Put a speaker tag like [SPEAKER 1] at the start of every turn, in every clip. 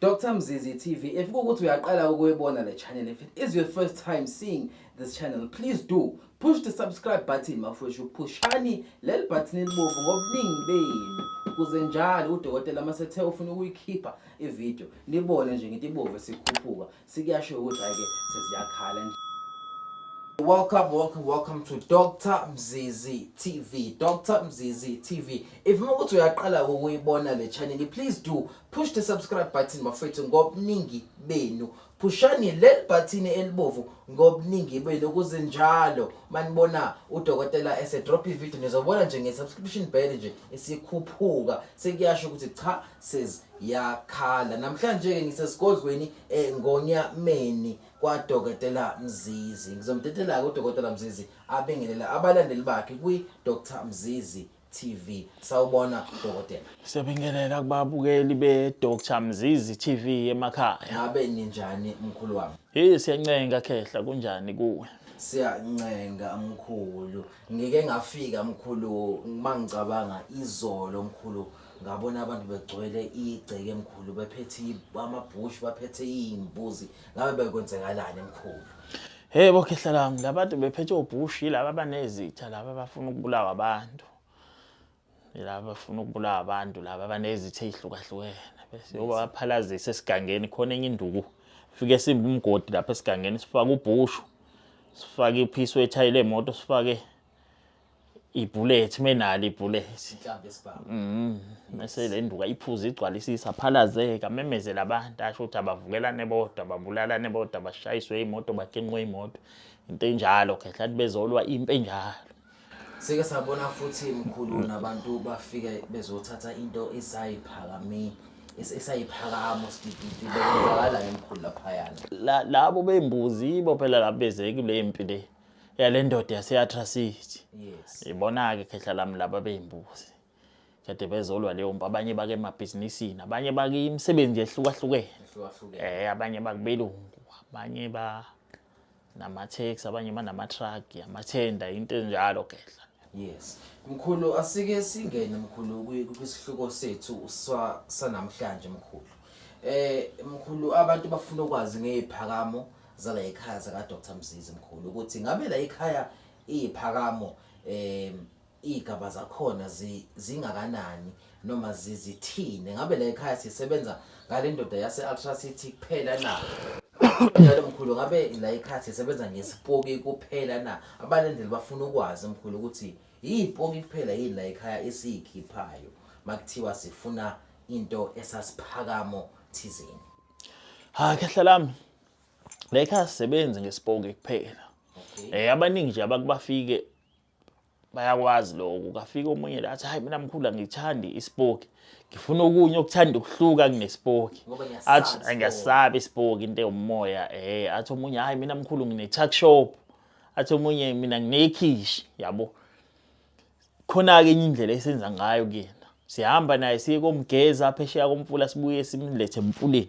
[SPEAKER 1] Dr Mzizi TV if kukuthi uyaqala ukuyibona le channel if it is your first time seeing this channel please do push the subscribe button mafwethu phushani leli button elibovu ngobuningi benu kuze njalo udokotela masethe ufuna ukuyikhipha ivideo nibone nje ngithi ibovu sikhuphuka Sikuyasho ukuthi hayi ke sesiyakhala nje. Welcome, welcome, welcome to Dr. Mzizi TV. Dr. Mzizi TV. If you want to uyaqala ukuyibona le channel, please do push the subscribe button bafethu ngobuningi benu. Pushani leli button elibovu ngobuningi benu ukuze njalo manibona udokotela ese drop i video nizobona nje nge subscription bell nje isikhuphuka. Sekuyasho ukuthi cha says yakhala namhlanje ke ngisesigodlweni eh, ngonyameni kwadokotela Mzizi ngizomtetela ke udokotela Mzizi abingelela abalandeli bakhe kwi Dr Mzizi TV sawubona dokotela Siyabingelela
[SPEAKER 2] kubabukeli be Dr Mzizi TV emakhaya ngabe ninjani
[SPEAKER 1] mkhulu wami Hey siyancenga khehla
[SPEAKER 2] kunjani kuwe siyancenga
[SPEAKER 1] mkhulu ngike ngafika mkhulu mangicabanga izolo mkhulu ngabona abantu begcwele igceke emkhulu bephethe amabhushu baphethe iy'mbuzi ngabe bekwenzekalani emkhulu Hey bo khehla lami
[SPEAKER 2] labantu bephethe obhushi laba banezitha laba bafuna ukubulawa abantu. Laba bafuna ukubulawa abantu laba banezitha ezihlukahlukene bese yoba baphalazise esigangeni khona enye induku fike simbe umgodi lapha esigangeni sifake ubhushu sifake iphisi wethayile emoto sifake ibhullet menali ibhullet inhlamvu esibhamu
[SPEAKER 1] mhm mase le nduka
[SPEAKER 2] iphuza igcwalisisa phalazeka memezela abantu asho ukuthi abavukelane bodwa babulalane bodwa bashayiswe imoto bakinqwe imoto into enjalo khehla bezolwa impi enjalo sike
[SPEAKER 1] sabona futhi mkhulu mm. nabantu bafike bezothatha into esayiphakamile esayiphakamo sidididi bekhala emkhulu lapha yana labo bembuzi
[SPEAKER 2] ibo phela labezeki le mpi le yale ndoda yase-atracity yes
[SPEAKER 1] ibona-ke khehla lami
[SPEAKER 2] laba beyimbuzi kade bezolwa leyo mpi abanye bake emabhizinisini abanye bakimisebenzi yehlukahlukene ehlukahlukene um abanye bakubelungu abanye ba nama-tax abanye banama-truck amathenda into enjalo khehla yes
[SPEAKER 1] mkhulu asike singene mkhulu kwi- kwisihluko sethu sa- sanamhlanje mkhulu eh mkhulu abantu bafuna ukwazi ngeziphakamo zala ekhaya saka Dr Mzizi mkhulu ukuthi ngabe la ekhaya iziphakamo eh igaba zakhona zingakanani noma zizithini ngabe la ekhaya sisebenza ngalendoda yase Ultra City kuphela na njalo mkhulu ngabe la ekhaya sisebenza ngesipoki kuphela na abalendeli bafuna ukwazi mkhulu ukuthi yipoki kuphela yini la ekhaya esiyikhiphayo makuthiwa sifuna into esasiphakamo thizeni ha
[SPEAKER 2] khehla lami Lakers sebenzi ngesipoke kuphela eh abaningi nje abakubafike bayakwazi lokho kafika omunye la athi hayi mina mkhulu angithandi isipoki ngifuna okunye okuthanda ukuhluka kunesipoki athi angiyasabi isipoki into yomoya eh athi omunye hayi mina mkhulu ngine tuck shop athi omunye mina nginekhishi yabo khona ke enye indlela esenza ngayo kuyena sihamba naye siye komgeza phesheya komfula sibuye simlethe emfuleni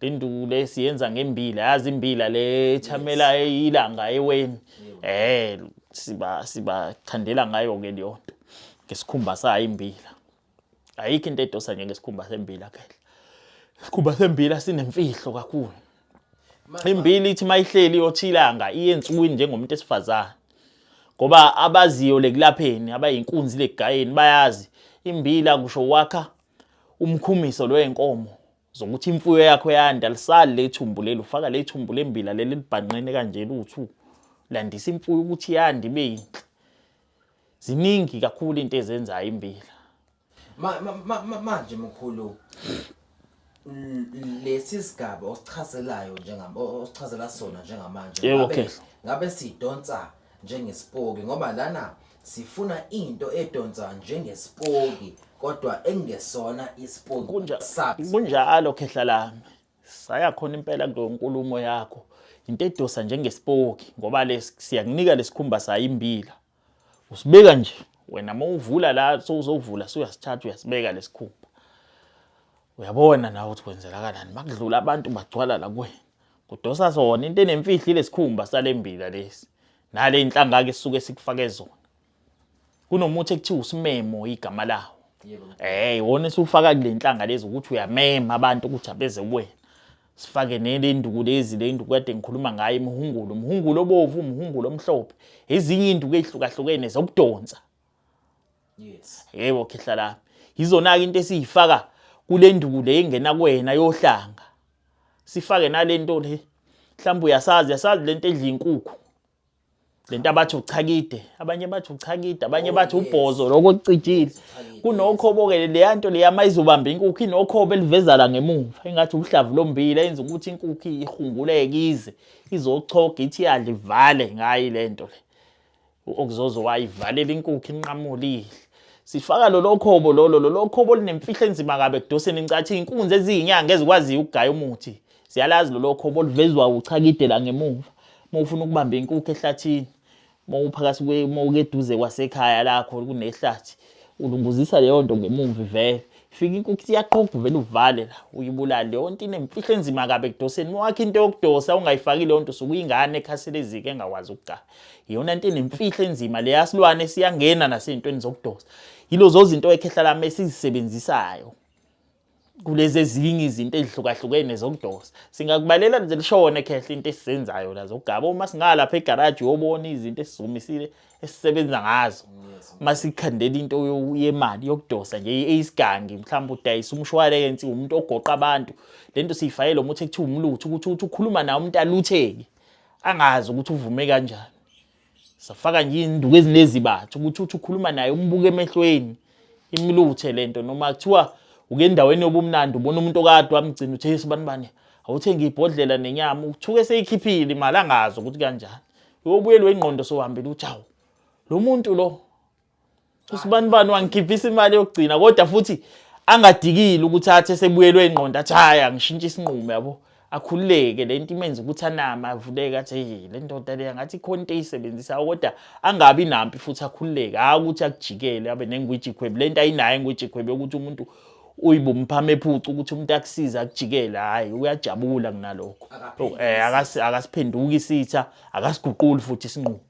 [SPEAKER 2] induku le siyenza ngembila yazi imbila le chamela ilanga eweni eh siba siba chandela ngayo ke leyo nto ngesikhumba sayo imbila ayikho into edosa nje ngesikhumba sembila ke isikhumba sembila sinemfihlo kakhulu imbila ithi mayihleli yochilanga iyensukwini njengomuntu esifazana ngoba abaziyo lekulapheni abayinkunzi legayeni bayazi imbila kusho wakha umkhumiso lwenkomo zokuthi imfuyo yakho yanda lisali lethumbu leli ufaka lethumbu lembila leli libhanqene kanje luthu landisa imfuyo ukuthi yande ibe yinhle ziningi
[SPEAKER 1] kakhulu into
[SPEAKER 2] ezenzayo imbila manje
[SPEAKER 1] mkhulu lesi sigaba osichazelayo njengam osichazela sona njengamanje ngabe
[SPEAKER 2] sidonsa
[SPEAKER 1] njengesipoki ngoba lana sifuna into edonsa njengesipoki kodwa engesona isipoki kunja kunjalo
[SPEAKER 2] khehla lami saya khona impela kulo nkulumo yakho into edosa njengesipoki ngoba lesi siyakunika lesikhumba sayimbila usibeka nje wena mawuvula la sowuzovula suyasithatha uyasibeka lesikhumba uyabona nawe ukuthi kwenzelakalani makudlula abantu bagcwala la kuwena kudosa sona into enemfihlo ilesikhumba salembila lesi nale inhlanga-ke sisuke sikufake zona kunomuthi ekuthiwa usimemo igama lawo eh iwona
[SPEAKER 1] esiwufaka kule
[SPEAKER 2] nhlanga lezi ukuthi uyamema abantu ukuthi abeze kuwena sifake nelenduku lezi le induku kade ngikhuluma ngayo imihungulo umhungulo obovu umhungulo omhlophe ezinye induku ezihlukahlukene zokudonsa
[SPEAKER 1] yes yebo khehla
[SPEAKER 2] lami yizona-ke into esiyifaka kule nduku le ingena kwena yohlanga sifake nale nto le mhlawumbe uyasazi yasazi le nto edla inkukhu le nto abathi uchakide abanye bathi uchakide abanye oh, bathi ubhozo lokho kucijile kunokhobo-ke leya nto leya ma izobamba inkukhu inokhobo elivezala ngemumva engathi ubuhlavu lombila yenza ukuthi inkukhu ihunguleke ize izochoga ithi yadla ivale ngayo le nto le uOkuzozo wayivalela inkukhu inqamulile. Sifaka lolo khobo lolo lolo khobo linemfihlo enzima kabe kudoseni incathi inkunzi eziyinyanga ezikwaziyo ukugaya umuthi. Siyalazi lolo khobo livezwa uchakide la ngemuva. Uma ufuna ukubamba inkukhu ehlathini, uma uphakathi kwe uma ukeduze kwasekhaya lakho kunehlathi, ulunguzisa leyo nto ngemuva ivele. Fika inkukhu iyaqoqa uvele uvale la uyibulale leyo nto inemfihlo enzima kabe kudoseni. Uma wakhe into yokudosa ungayifaki leyo nto sukuyingane ekhaselezike engakwazi ukugaya. iyona nto enemfihlo enzima leya silwane siyangena nasey'ntweni zokudosa yilozo zinto ekhehla lami esizisebenzisayo kulezi ezinye izinto ezihlukahlukene zokudosa singakubalela nje lishona ekhehla into esizenzayo la zokugaba uma singalapha egaraji uyobona izinto esizumisile esisebenza ngazo uma sikhandela into yemali yokudosa nje eyisigangi mhlawumbe udayisa umshwalensi umuntu ogoqa abantu le nto siyifayele umuthi ekuthiwa umlutho ukuthi uthi ukhuluma nawo umuntu alutheke angazi ukuthi uvume kanjani safaka nje induku ezinezibatha ukuthi uthi ukhuluma naye umbuke emehlweni imluthe lento noma kuthiwa uke endaweni yobumnandi ubona umuntu okade wamgcina uthe isibani bani awuthenge ibhodlela nenyama uthuke seyikhiphile imali angazi ukuthi kanjani uyobuyelwa ingqondo sohambile ukuthi awu lo muntu lo usibanibani wangikhiphisa imali yokugcina kodwa futhi angadikile ukuthi athe sebuyelwe ingqondo athi hayi angishintshe isinqumo yabo akhululeke le nto imenza ukuthi anama avuleke athi hey le ndoda leya ngathi ikhona into eyisebenzisayo kodwa angabi nampi futhi akhululeke hhayi ukuthi akujikele abe nengwijikhwebu le nto ayinayo engwijikhwebu yokuthi umuntu uyibumphama ephuca ukuthi umuntu akusize akujikele hhayi uyajabula kunalokho um akasiphenduki isitha akasiguquli futhi isinqumo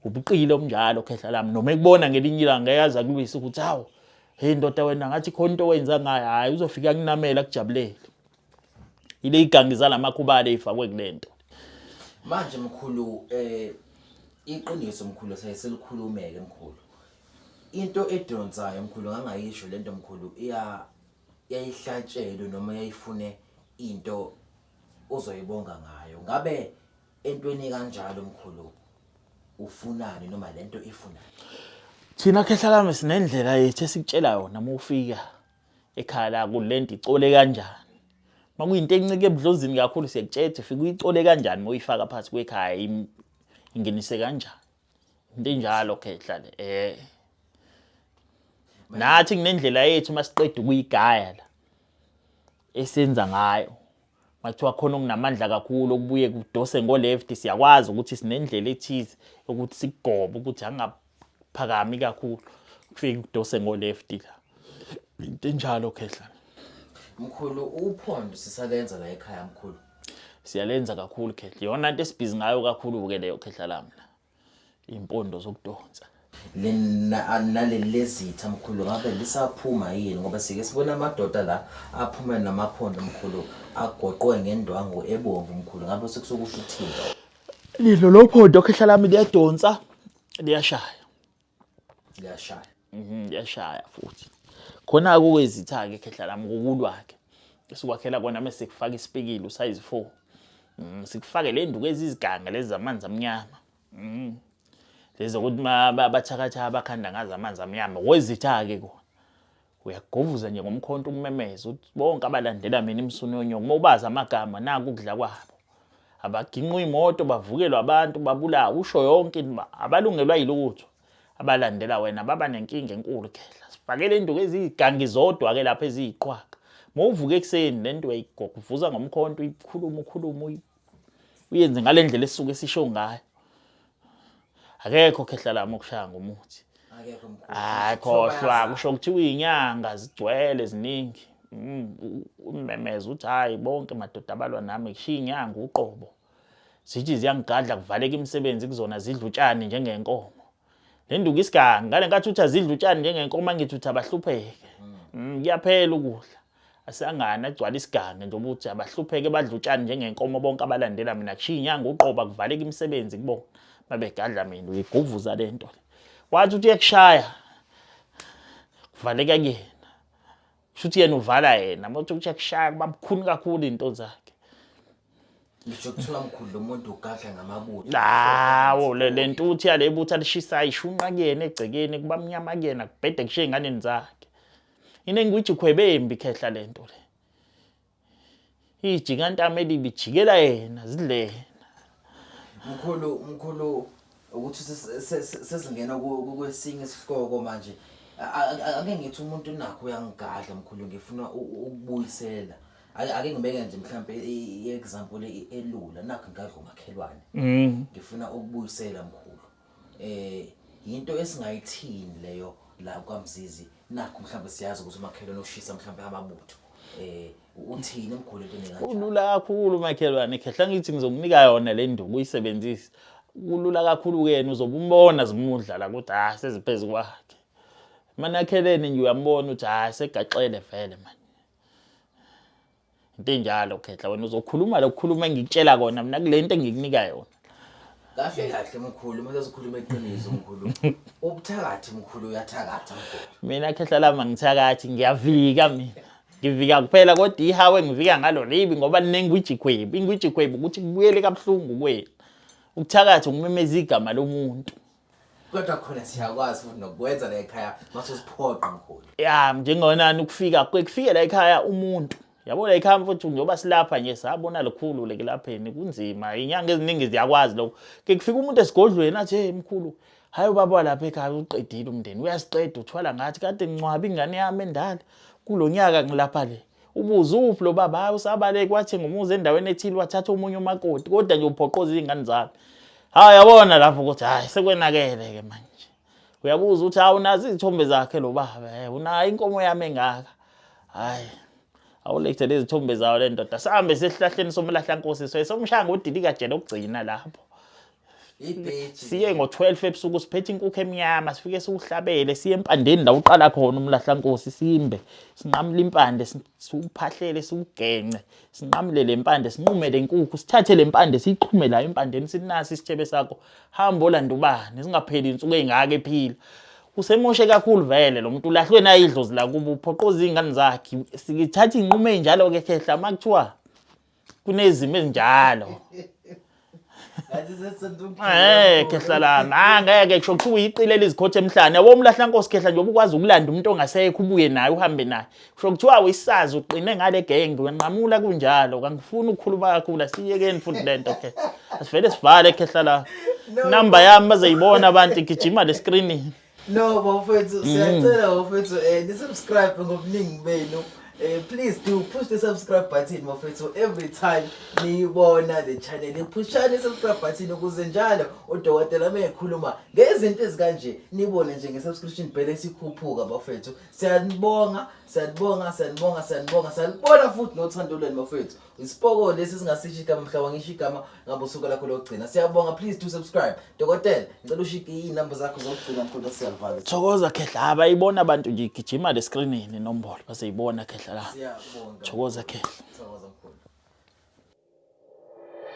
[SPEAKER 2] ubuqili obunjalo khehla lami noma ekubona ngelinye ilanga eyazi akulwisa ukuthi hawu hey ndoda wena ngathi khona into owenza ngayo hhayi uzofika kunamela akujabulele ile igangi zalamakhubala eyifakwe kule nto manje
[SPEAKER 1] mkhulu um iqiniso mkhulu saye selikhulumeke mkhulu into edonsayo mkhulu ngangayisho le nto mkhulu yayihlatshelwe noma yayifune into ozoyibonga ngayo ngabe Entweni kanjalo mkhulu ufunani noma lento ifunani? Thina
[SPEAKER 2] khehla lami sinendlela yethu esikutshela yona uma ufika ekhaya la kulento icole kanjani. Uma kuyinto encike ebudlozini kakhulu siyakutshela ukuthi fika uyicole kanjani uma uyifaka phansi kwekhaya ingenise kanjani. Into enjalo khehla le. Eh. Nathi kunendlela yethu uma siqeda ukuyigaya la esenza ngayo Makuthiwa khona okunamandla kakhulu okubuye kudose ngo-left siyakwazi ukuthi sinendlela ethize yokuthi sikugobe ukuthi angaphakami kakhulu kufike kudose ngo-left la into enjalo khehla mkhulu
[SPEAKER 1] uphondo sisalenza la ekhaya mkhulu siyalenza
[SPEAKER 2] kakhulu khehla iyona nto esibhizi ngayo kakhulu-ke leyo khehla lami la impondo zokudonsa naleli
[SPEAKER 1] lezitha mkhulu ngabe lisaphuma yini ngoba sike sibona amadoda la aphuma namaphondo mkhulu agoqwe ngendwangu ebomvu mkhulu ngabe sekusokusho uthini lilo
[SPEAKER 2] lophondo khehla lami liyadonsa liyashaya liyashaya mhm liyashaya futhi khona kukwezitha-ke khehla lami kukulwa-ke esikwakhela kona mese sikufaka isipikile usayizi four um sikufake le nduku eziziganga lezi zamanzi amnyama um lezi zokuthi bathakatha abakhanda ngazo amanzi amnyama kwezitha-ke kona Uyagovuza nje ngomkhonto ukumemeza uthi bonke abalandela mina imsunu yonyoko uma ubazi amagama naku ukudla kwabo. Abaginqwa imoto bavukelwa abantu babulawa usho yonke into uba abalungelwa yilutho abalandela wena baba nenkinga enkulu khehla sifakele induku eziyigangi zodwa ke lapha eziyiqhwaga mawuvuka ekuseni lento uyayigovuza ngomkhonto uyikhuluma ukhuluma uyenze ngale ndlela esuke sisho ngayo akekho khehlalami okushaya ngomuthi
[SPEAKER 1] hayi khohlwa
[SPEAKER 2] kusho kuthiwa iyinyanga zigcwele ziningi mm, umemeza uthi hhayi bonke madoda abalwa nami kushiya inyanga uqobo zithi ziyangigadla kuvaleka imisebenzi kuzona zidla utshani njengenkomo le nduku isigangi ngale nkathi uthi azidla utshani njengenkomo angithi uthi abahlupheke mm. Mm, kuyaphela ukudla Asangane agcwale isigange nje ukuthi abahlupheke badla utshani njengenkomo bonke abalandela mina kushiya inyanga uqoba kuvaleka imisebenzi kubona mabegadla mina uyiguvuza le nto wathi uthi uyekushaya kuvaleka kuyena kusho ukuthi yena uvala yena uma uthi uyakushaya kuba bukhuni kakhulu iy'nto zakhe ngisho
[SPEAKER 1] kuthiwa mkhulu lo muntu ugadla ngamabutho lawo
[SPEAKER 2] le ntuthu yale butha lishisayo ishunqa kuyena egcekeni kuba mnyama kuyena kubhede kushiye ey'nganeni zakhe inengwijikho ebembi khehla lento le ijika ntama elibi jikela yena zidlena mkhulu
[SPEAKER 1] mkhulu ukuthi sesingena kwesinye isihloko manje ake ngithi umuntu nakho uyangigadla mkhulu ngifuna ukubuyisela ake ngibeke nje mhlawumbe i-example elula nakho ngadla umakhelwane mm. ngifuna ukubuyisela mkhulu eh yinto esingayithini leyo la kwaMzizi nakho mhlawumbe siyazi ukuthi umakhelwane ushisa mhlawumbe amabutho eh uthini umguli into enjalo ulula kakhulu
[SPEAKER 2] makhelwane khehla ngithi ngizokunika yona le nduku uyisebenzise kulula kakhulu kuyena uzobe umbona zimudla la ukuthi hayi ah, seziphezulu kwakhe manakhelene nje uyambona ukuthi hayi ah, segaxele vele manje into enjalo khehla wena uzokhuluma lokukhuluma engikutshela kona mina kule nto engikunika yona kahle
[SPEAKER 1] kahle mkhulu uma sesikhuluma iqiniso mkhulu ubuthakathi mkhulu uyathakatha mina khehla lami
[SPEAKER 2] angithakathi ngiyavika mina ngivika kuphela kodwa ihawe ngivika ngalo libi ngoba linengwijikhwebu ingwijikhwebu ukuthi kubuyele kabuhlungu kwenu ukuthakathi ukumemeza igama lomuntu kodwa
[SPEAKER 1] khona siyakwazi futhi nokwenza la ekhaya mase usiphoqa mkhulu ya njengonani
[SPEAKER 2] ukufika kufike la ekhaya umuntu yabo la ekhaya mfuthu njengoba silapha nje sabona likhulu lekulapheni kunzima inyanga eziningi ziyakwazi lokho ke kufika umuntu esigodlweni athi hey mkhulu hayi ubaba lapha ekhaya uqedile umndeni uyasiqeda uthwala ngathi kade ngincwaba ingane yami endala kulonyaka ngilapha le ubuze uphi lo baba hayi usabaleke wathenga umuzi endaweni ethile wathatha omunye umakoti kodwa nje uphoqoza izingane zalo hayi yabona lapho ukuthi hayi sekwenakele ke manje uyabuza ukuthi hawu nazi izithombe zakhe lo baba eh unayo inkomo yami engaka hayi awulethe lezi thombe zawo le ndoda sihambe sesihlahleni somlahlankosi so esomshanga udilika jele okugcina lapho siye ngo-12 ebusuku siphethe inkukhu emnyama sifike siwuhlabele siye empandeni la uqala khona umlahlankosi simbe sinqamule impande siwuphahlele siwugence sinqamule le mpande sinqume le nkukhu sithathe le mpande siyixhume la empandeni sinasi isithebe sakho hambo olanda ubani singapheli insuku ey'ngaka ephila usemoshe kakhulu vele lo muntu ulahlwe naye idlozi lakubo uphoqoza iy'ngane zakhe sikithatha iy'nqumo ey'njalo-ke khehla uma kuthiwa kunezimo ezinjalo Eh khehla lami ah ngeke kusho kuthiwa uyiqilela izikhothe emhlane yabo umlahla nkosi khehla nje ubukwazi ukulanda umuntu ongasekho ubuye naye uhambe naye kusho kuthiwa uyisazi uqine ngale genge wenqamula kunjalo kangifuni ukukhuluma kakhulu asiyekeni futhi lento ke asivele sivale khehla la number yami bazeyibona abantu igijima le screen No bafethu
[SPEAKER 1] siyacela bafethu eh ni subscribe ngobuningi benu. Eh please do push the subscribe button bafethu every time niyibona le channel niphushani i subscribe button ukuze njalo udokotela mekhuluma ngezinto ezikanje nibone nje nge subscription bell esikhuphuka bafethu. Siyanibonga, siyanibonga, siyanibonga, siyanibonga. Salibona futhi nothando lwenu bafethu. isipoko lesi singasisho igama mhla wangisho igama ngabe usuku lakho lokugcina siyabonga please to subscribe dokotela ngicela ushike iy'namba zakho zokugcina mkhulu siyalivala thokoza khehla
[SPEAKER 2] abayibona abantu nje igijima le screenini inombolo baseyibona khehla la siyabonga thokoza
[SPEAKER 1] khehla